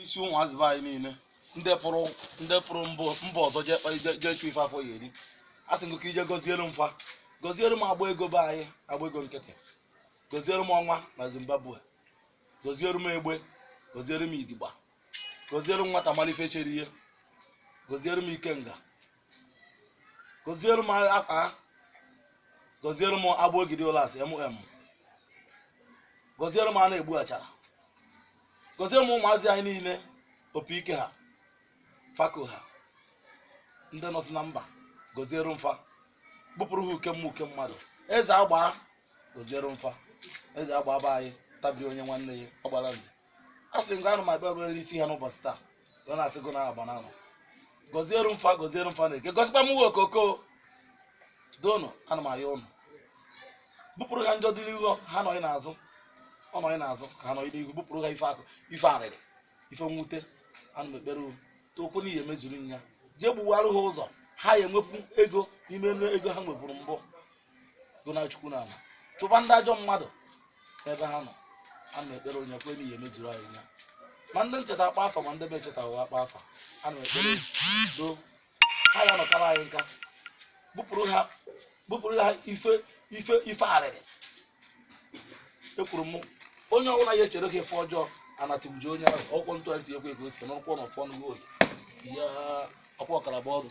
isi ụmụazị be anyị niile ndị pụrụ ndị pụrụ mbụ mba ọzọ jee kpa- jee- jee chụ ife afọ ya eri asị m gị ka i je gọziere m fa gọziere m agba ego be anyị agba ego nkịtị gọziere m ọnwa na zimbabwe gọziere m egbe gọziere m idigba gọziere m nwata malị ife chere ihe gọziere m ikenga gọziere m akpa ha gọziere m agbogidi ụlasị mm gọziere m a na-egbu achara gọziere m ụmụazị anyị niile opi ike ha fako ha ndị nọsị na mba gọziere m fa bupụrụ ha uke mma- uke mmadụ eze agbaa gọziere m fa eze agbaa be anyị tabiri onye nwanne ya ọ gbara nze a sị nke anụ ma bịa obere isi ha n'ụbọchị taa ya na-asị gụ na agba na anọ gọziere m fa gọziere m fa na eke gọzikwa m uwe okoko doonụ ana m ayọ ụnụ bupụrụ ha njọ dị n'ihu ha nọghị n'azụ ọ nọghị n'azụ ka ha nọghị n'ihu bupụrụ ha ife akwa ife arịrị ife mwute ana m ekpere ụnụ tokwu n'ihi emezuru ya jee gbuwarụ ha ụzọ ha ya enwepụ ego n'ime ego ha nweburu mbụ gụ na chukwu na ala chụba ndị ajọ mmadụ ebe ha nọ ana m ekpere onye kwe n'ihe mejuru anyị nya ma ndị m cheta akpa afa ma ndị be m cheta ụwa akpa afa ana m ekpere doo ha ya nọkara anyị nka bupụrụ ha bupụrụ ha ife ife ife arịrị ekwuru m onye ọbụla ya echere fa ife ọjọọ anatụgbuji onye ahụ ọkwụkwọ ntụ anyị si ekwe ka o si n'ụkwụ na ọfọ nụgo oyi ya ọkwa ọkara bụ ọrụ